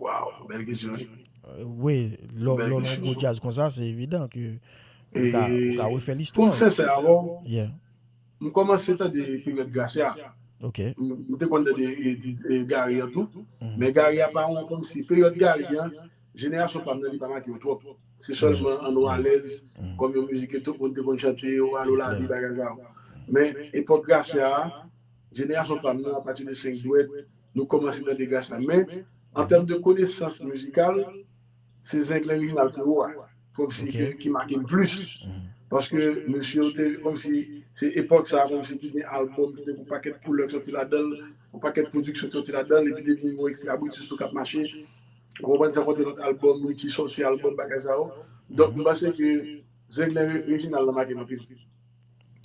Waw bèl kesyon wi. Wi lò lò nan yon gwo djaz konsa se evidan ke ou ka ou ka refè listwa. Pou m sensè avèw yeah. M kòmanse tande peryòd Gracia. Ok. M te konn tande Gary an tou. Men Gary a pa yon kòmsi peryòd Gary an jenerasyon pam nan li pa make yo twòp. Se sèlman An Nou Alèz kòm yon mizik ke tout moun te konn chante yo, Alo Lavi bagay sa yo. Men epòk Gracia a jenerasyon pam nan apati de 5 dwèt nou kòmanse tande Gracia. Men an tèm de konesans mizikal. Se zenglen Reginald Frero a kòmsi ki make m plis paske mesye yo te kòmsi se epòk sa kòmsi ki gen albòm ki te gen yon pakèt koulè k sòti ladan l, yon pakèt pwodiksyon k sòti ladan l epi depi yon Extra Brutus tou k ap mache ou konprann san konte lòt albòm Ricky sòti albòm bagay sa yo donk m panse ke zenglen Reginald la make m anpil.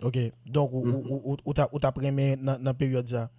Ok donk ou t ap renmen nan peryòd sa?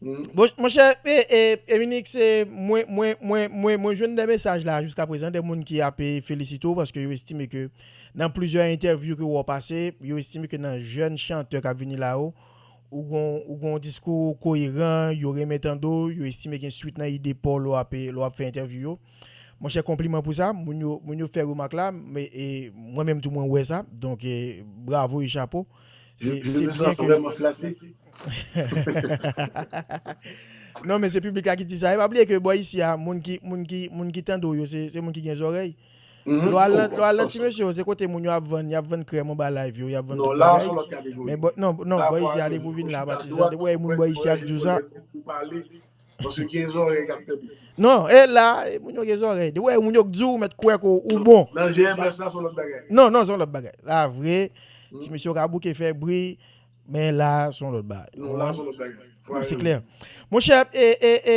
Monchè Eminik se mwen mwen mwen mwen mwen jwenn de mesaj la jiska prezan de moun ki ape felisite w paske yo estime ke nan plizyè entèvyou ke wou pase yo estime ke nan jèn chantè kap vini la yo ou gon ou gon diskou koyeran yo renmen tande w yo estime gen swit nan ide paw lè w ape lè w ap fè entèvyou yo monchè konpliman pou sa moun yo moun yo fè remak la e mwen menm tou mwen wè sa donk bravo e chapo. Se byen ke Non men se piblik la ki di sa E pa bliye ke bò isi a Moun ki tande w yo se moun ki gen zòrèy Lò al nan ti mesye yo se kote moun yo ap vann Y ap vann krèm anba live yo Y ap vann tout bagay Non bò isi a depi w vin la a pati sa Depi w wè yon moun bò isi a k di w sa Paske gen zòrèy kap tande. Non, e la, moun yo gen zòrèy. Depi w wè moun yo k di w, ou mèt kwè ke w bon. Nan GMS la, se yon lòt bagay. Non, non, se yon lòt bagay. La vre, ti mesye yo ka bouke fè bri, men la, se yon lòt bagay. Non, la, se yon lòt bagay. Non, se klè. Monchè, e, e, e,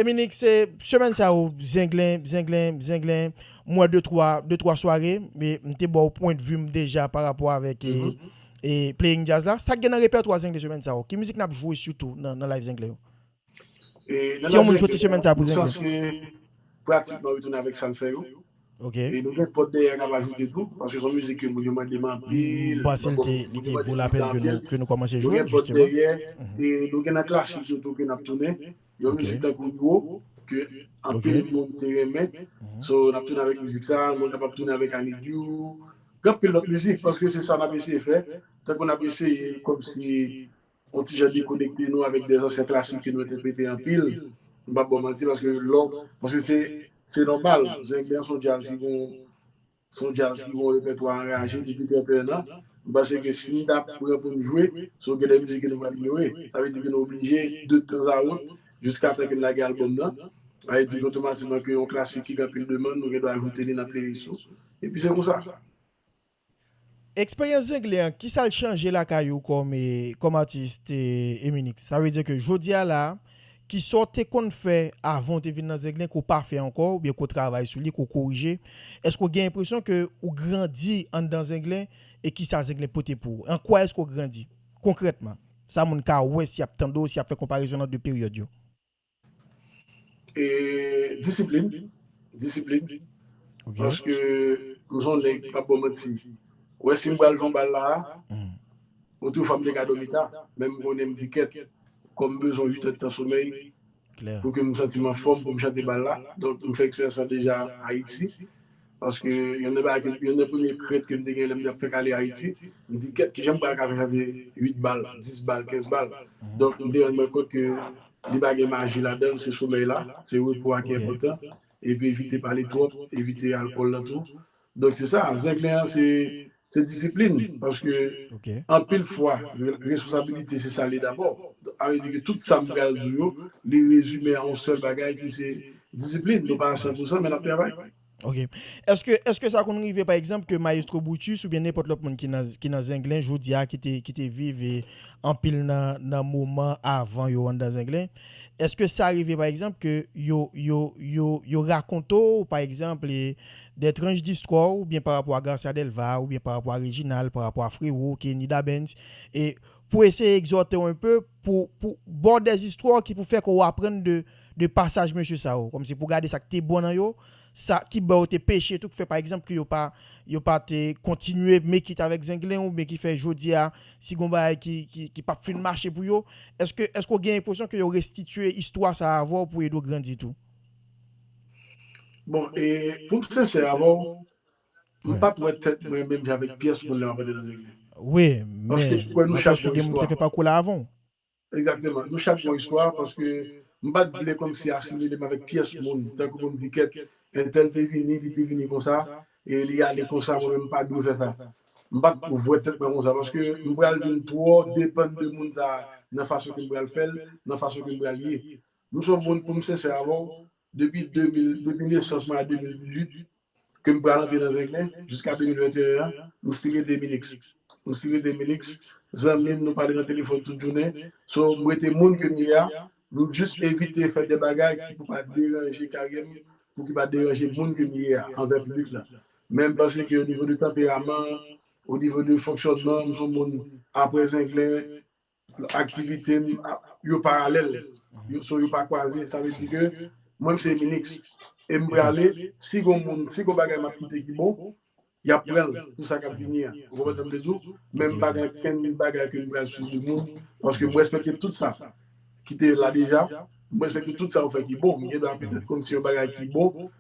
Eminik, se semèn sa yo, zenglen, zenglen, zenglen, m wè de twa, de twa sware, e m te ba w pwendvi m deja pa rapò avèk e, e Playing Jazz la. Sa k gen nan repètwa zenglen semèn sa yo? Ki mizik n ap jwe sitou nan, nan Live Zenglen yo? Si yon moun soti chemen sa pou zenglen. Sòsyè pratikman retounen avèk sa l fè yo. Ok. E nou gen pòt dèyè a k ap ajoute tou. Paske s on mizik ke moun yo mande m anpil. M panse l te, li te vo lapèn ke nou kòmanse jwe l. Nou gen pòt dèyè. E nou gen nan klasik yo tou ke n ap tounen. Yon mizik tankou Iwo ke anpil moun te renmen. So n ap tounen avèk mizik sa. Nou kapab tounen avèk I need you. Gen anpil lòt mizik. Paske se sa n ap eseye fè. Tankou n ap eseye kòmsi. On ti jan dekonekte nou avèk de zansyen klasik ke nou entèprete anpil. M pap ba w manti paske lè w, paske se, se nòmal. Zenglen se yon djaz ki gen yon, se yon djaz ki gen yon repètwa anraje depi 31 an. M panse ke si n ta pran pou n jwe, se yon gen de mizik ke nou pral inyore. Sa vle di ke nou oblije de tanzawont jiskatan ke n lage albòm nan. Sa vle di ke otomatikman ke yon klasik ki gen anpil demann, nou gendwa ajoute li nan playlist ou. Epi se konsa. Eksperyans zengle an ki sa l chanje lakay ou kòm atis Eminix? Sa vle di ke jodi a la, ki sa w te konn fè avan w te vin nan zengle ke w pa fè ankò oubyen ke w travay sou li, ke w korije? Èske w gen enpresyon ke w grandi anndan zengle e ki sa zengle pote pou ou? An kwa èske w grandi konkrètman? Sa moun ka wè si y ap tande w, si y ap fè konparezon nan 2 peryòd yo. E disiplin, disiplin, paske m son nèg, m pap ba w manti, ou wè si m pral jwe yon bal la a, otrefwa m te ka dòmi ta, men m konnen m di kèt, kò m bezwen uitèdtan somèy pou ke m santi m anfòm pou m chante bal la, donk m fè eksperyans sa deja Ayiti, Paske yonn nan bagay ke, yonn nan premye krent ke m te gen lè m tap fèk ale Ayiti, m di kèt kijan m pral ka fè sa vle 8 bal, 10 bal, 15 bal. Donk m te rann mwen kont ke li pa gen maji ladan l, se somèy la, se repo a ki enpòtan. Epi evite pale twòp, evite alkòl la tou. Donk se sa, zenglen an se Se disiplin, paske anpil fwa responsabilite se sa l ye dabò. A vle di ke tout sa m pral di w yo, li rezime a yon sèl bagay ki se disiplin. Nou pa a san pou san men n ap travay. Ok. Eske sa konn rive pa egzanp ke Mayestwo Brutus oubyen nenpòt lòt moun ki nan Zenglen jodi a ki te viv anpil nan moman avan yo anndan Zenglen, eske sa rive pa egzanp ke yo rakonte w pa egzanp Dè tranch distwa w oubyen pa rapò a Garcia Delva oubyen pa rapò a Reginald, pa rapò a Frero, Kenny Dabens e pou eseye egzòte w enpe pou pou ba w dè istwa w ki pou fè kò w aprann de de pasaj mesye sa yo kòmsi pou gade sa k te bon nan yo, sa ki bò yo te peche tou k fè pa egzanp ke yo pa yo pa te kontinye make it avèk Zenglen oubyen ki fè jodi a si gon bagay ki ki ki p ap fin mache pou yo èske èske w gen enpresyon ke yo restitye istwa sa a avè w pou ede w grandi tou? Bon e poum sensè avèw m pat wè tèt mwen menm jan avèk pyès moun lèm ap antre nan legliz. Wi men Paske m kwè nou chak gen moun ki te fè pakou la avanw. Egzakteman nou chak gon istwa paske m pat vle kòmsi asimilem avèk pyès moun tankou poum di kèt entèl te vini li te vini konsa e li ale konsa mwen menm m pa dwe fè sa. M pat wè tèt mwen konsa paske m pral vin twò depann de moun sa nan fason kem pral fèl nan fason kem pral ye M son moun poum sensè avèw depi 2000 depi nesans mwen a 2018 kem pral antre nan zenglen jiska 2021 an m stil rete minix m stil rete minix zanmim nou pale nan telefòn tout jounen so m rete moun kem ye a m jis evite fè de bagay ki pou pa deranje karyèm pou ki pa deranje moun kem ye a anvè piblik lan men m panse ke o nivo de tanperaman o nivo de fonksyònman m son moun aprè zenglen Aktivite m yo paralèl, so yo pa kwaze. Sa vle di ke mwen m se Eminix e m prale, si gon moun, si gon bagay m ap kite ki bon, y ap pran l pou sa k ap vini an. Ou konprann sa m vle di w? Men m pa gen okenn bagay ke m pral swive moun, paske m respekte tout sa ki te la deja. M respekte tout sa yo fè ki bon. M gendwa petèt konn si yon bagay ki bon,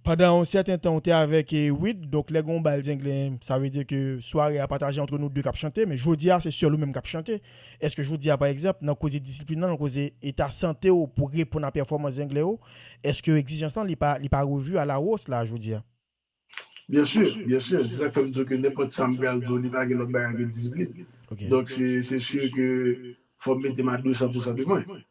Pandan yon sèten tan ou te avèk Wid, donk lè gen yon bal zenglen sa vle di ke sware a pataje antre nou de kap chante, men jodi a se sèl ou menm kap chante. Eske jodi a pa egzanp nan koze disiplin lan, nan koze eta sante ou pou reponn a pèfòmans zenglen yo, eske egzijans lan li pa li pa revu a la hausse la jodi a? Byen su, byen su, se sak fèm di w ke nenpòt sa m pral di w li pa gen lòt bagay ke disiplin. Donk se se sur ke fò m mete m a 200 pousan de mwen.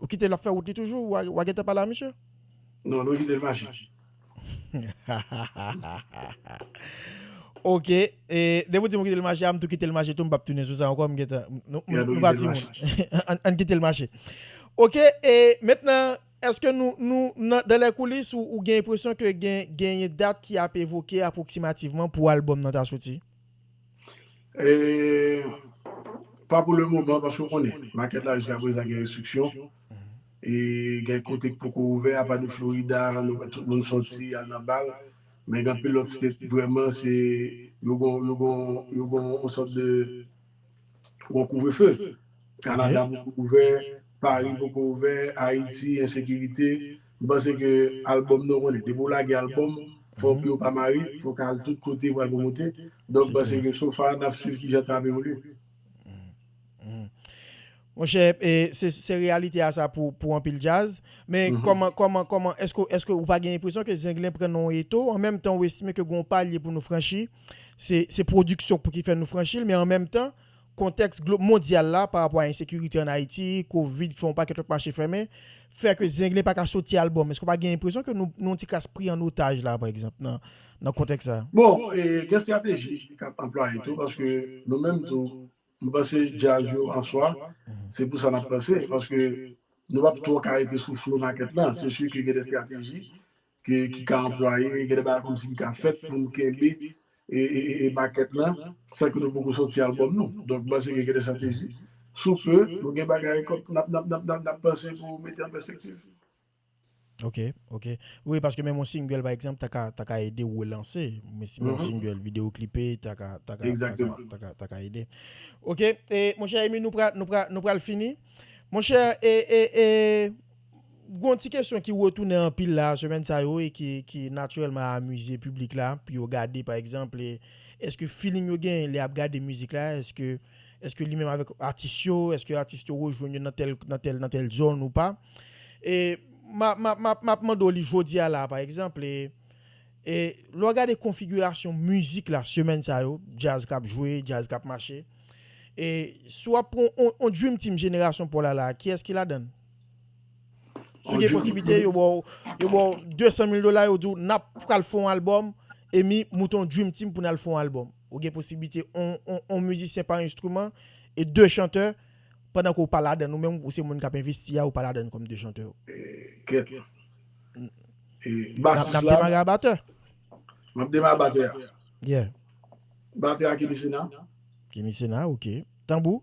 Ou kite l ap fè wout li toujou wa gentan pale a misye. Non nou kite l mache. Ok depi w di m ou kite l mache a m tou kite l mache tou m pap tounen sou sa ankò m gentan nou pa timoun ann kite l mache. Ok mentnan eske nou nan dan lè koulis ou gen enpresyon ke genyen dat ki ap evoke apwoksimativman pou albòm nan ta soti? Pa pou le moman paske ou konnen market la jiska prezan gen restriksyon e gen kote ki poko ouvè apa de Florida nou wè tout moun sòti al nan bal men gen anpil lòt state vrèman se yo gon yo gon yo gon yon sòt de yon kouvrefe. Canada poko ouvè, Paris poko ouvè, Haiti ensekirite, m panse ke album nou konnen depi w lage album fò pye w pa mare, fò ka al tout kote pou al promote, donk m panse ke so far nap swiv kijan tan ap evolye. Monchè se reyalite a sa pou anpil djaz, men kòman kòman kòman èske èske ou pa gen enpresyon ke Zenglen pran nan yon eto an menm tan ou estime ke gen yon palye pou nou franchi se se pwodiksyon pou ki fè nou franchi l men an menm tan Kontèks glo mondyal la pa rapò a ensekirite an Ayiti, kovid ki fè yon pakèt lòt mache fèmen, fè ke Zenglen pa ka soti al bon. Èske w pa gen enpresyon ke nou nou yon ti kras pri an otaj la pa egzanp nan nan kontèks sa a? Bon, gen estrateji k ap anplwaye tou paske nou menm tou m panse djaz yo an swa se pou sa n ap panse paske nou p ap twò ka rete sou flo makèt lan. Se si ke gen de estrateji ki ka anplwaye, gen de bagay kòmsi ki ka fèt pou nou kenbe makèt la san ke nou poko sòti albòm nou. Donk, m panse ke gen de strateji. Sou pe, nou gen bagay kòm n ap panse pou mete an pèspektiv. Ok, ok. Wi, paske menm yon single pa egzanp ta ka ede ou relanse. M estime yon single, videoklipe ta ka ta ka ede. Ok, monchè Emmy nou pral fini. Monchè e e e. Gon ti kesyon ki retounen anpil la semèn sa yo e ki natirèlman amize piblik la pou yo gade pa egzanp eske feeling yo genyen lè yap gade mizik la eske eske li menm avèk atis yo eske atis yo rejwenn yo nan tèl nan tèl nan tèl zòn ou pa e ma ma map mande w li jodi a la pa egzanp e e lè w gade konfigirasyon mizik la semèn sa yo djaz kap jwe djaz kap mache e si wap pran yon yon dream team jenerasyon paw la la kiyès ki ladann? Si gen posiblite yo baw yo baw 200 mil dola yo diw nap pral fon album e mi mouton dream team poun al fon album ou gen posiblite on mizisyen pa enstriman e 2 chantè pandan ke ou pa ladann ou menm ou se moun kap envesti a ou pa ladann kom 2 chantè yo kèt e basis la nap demare a batè map demare a batè a yeah batè a kenny sena kenny sena ok tanbou.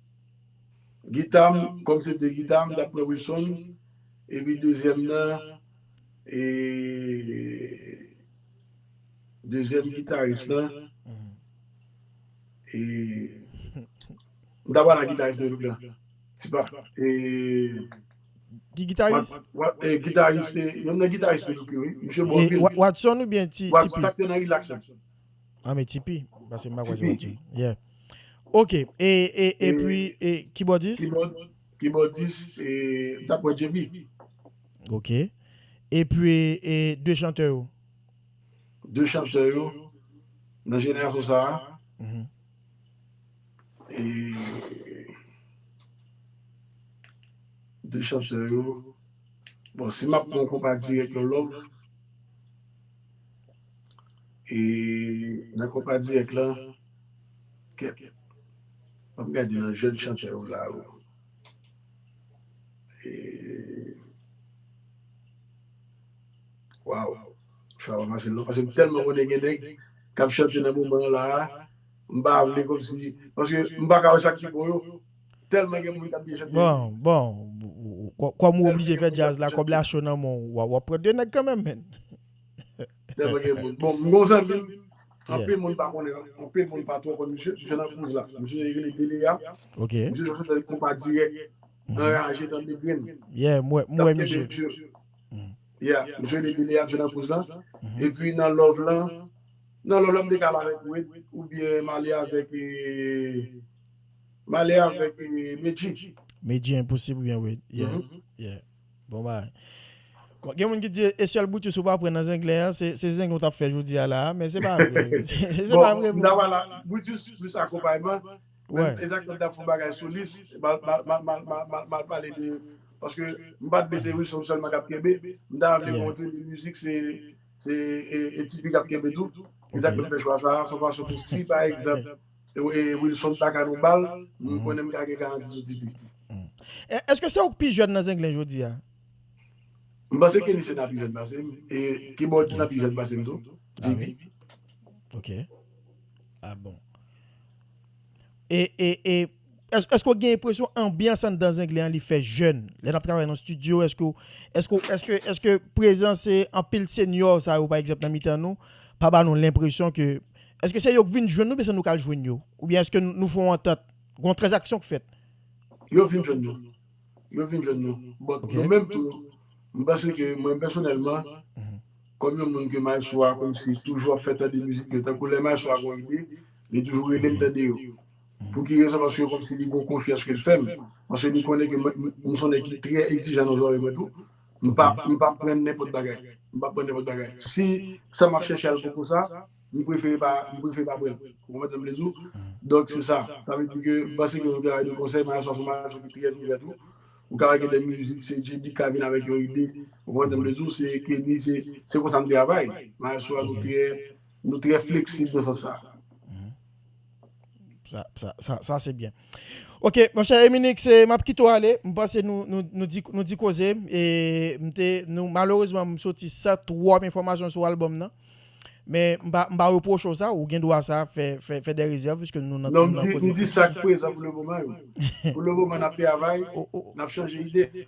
Gita m kòm se de gita m tap pran Wilson epi dezyèm nan e dezyèm gitaris lan e m ta pral ak gitaris mwen tout lan tipa e Ki gitaris? Gitaris, yonn nan gitaris mwen tout yo wi, misye bon anpil. Watson oubyen ti pi? Sak te nan relax lan. Ah men Tipi, pase m pa kwè se wap di. Yeah. Ok, e, e, e pwi, e, kibòdis? Kibòdis, e, m tap wè JB. Ok. E pwi, e, 2 chantè yo? 2 chantè yo, nan jenerasyon sa a, e, 2 chantè yo, bon si map pran yon konpa dirèk yon love. E nan konpa dirèk lan kèt banm gade nan jèn chantè yo la o e waw chwa pa fasil non paske m tèlman konnen gen nèg kap chante nan moman an la a m pa vle kòmsi paske m pa ka wè sak pi bon yo tèlman gen moun kap byen chante wi. Bon bon kòm ou oblije fè djaz la kòb la cho nan men w wap pran 2 nèg kanmenm menn. Tèlman gen moun. Bon, m gen yon zanmi m, anpil moun pa konnen, anpil moun pa twò konn misye, misye nan Cruz la. Misye rele Delia. Ok. Misye jwenn nan konpa dirèk, anraje tande grenn. Yeah, m wè, m wè misye. L ap kenbe dur. Yeah, misye rele Delia, misye nan Cruz la. Epi nan love lan, nan love lan m te ka al avèk Wid oubyen m ale avèk, m ale avèk Medjy. Medjy Enposib oubyen Wid. Yeah, yeah. Bon bagay. Gen moun ki di e sèl Brutus ou pa pran nan zenglen an, se zenglen ou tap fè jodi a la a, men se pa vre. Se pa vre. Bon, m ta pral la. Brutus plis akonpayman, men Isaac Nèg tap fè yon bagay solis, m al pale de, paske m pat vle se Wilson sèlman kap kenbe, m ta vle gen yon ti de mizik se e Tifi kap kenbe tou. Isaac Nèg fè chwa sa a, son fason pou si pa egzanp. Wilson pa ka nou bal, men m konnen m ka gen garanti sou Tipeee. Eske se ou k pi jèn nan Zenglen jodi a? M panse Kenny Sena pi jèn pase m, e Kibòdis lan pi jèn pase m tou, JP. Ok. A bon. E, e, e. Eske w gen enpresyon anbyans anndan Zenglen an li fè jèn? Lè n ap travay nan stidyo, eske w, eske w, eske, eske prezans anpil senyò sa yo pa egzanp nan mitan nou pa ba nou lenpresyon ke eske se yo k vin jwenn nou oubyen se nou k al jwenn yo? Oubyen eske nou fè yon antant, gon tranzaksyon k fèt? Yo vin jwenn nou. Yo vin jwenn nou. But nou menm tou, m panse ke mwen pèsonèlman, kòm yon moun ke mayestwo a kòmsi toujou ap fè tande mizik yo, tankou lè mayestwo a gon ide, li toujou rele m tande yo. Pou ki rezon? Paske kòmsi li gen yon konfyans ke l fè m. Paske li konnen ke mwen, m son nèg ki trè egzijan nan zòrèy mwen tou. M pa, m pa pran nenpòt bagay. M pa pran nenpòt bagay. Si sa m ap chèche al poko sa, m prefere pa, m prefere pa pran l. Ou konprann sa m vle di w? Donk se sa. Sa vle di ke, m panse ke yon travay de konsèy, Maya se yon gason ki trè ouvè tou. Ou ka wè gen de mizik, se JB ki ka vin avèk yon ide. Ou konprann sa m vle di w? Se Kenny, se, se konsa n travay. Maya Sowa nou trè, nou trè fleksib nan sans sa. Sa, sa, sa, sa se byen. Ok, mwen chè Eminik, se map kite ou ale, m panse nou, nou, nou di, nou di koze, e m te, nou, malerezman m soti san twòp enfòmasyon sou albòm nan, men m pa, m pa repwoche w sa, ou gen dwa sa, fè, fè, fè dè rezèv piske nou nan, nou nan koze. Non, m di, m di sa k prezan pou le moman yo. Pou le moman n ap travay, n ap chanje ide.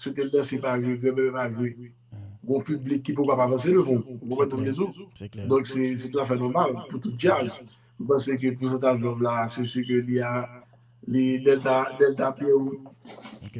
Si w te danse pa vre, grenn bebe pa vre, gon piblik ki poko ap avanse devan w. Ou konprann sa m vle di w? Donk se tou afè nòmal pou tout djaz. M panse ke pousantaj lòv la se si ke li a, li, lè l ta, lè l ta byen.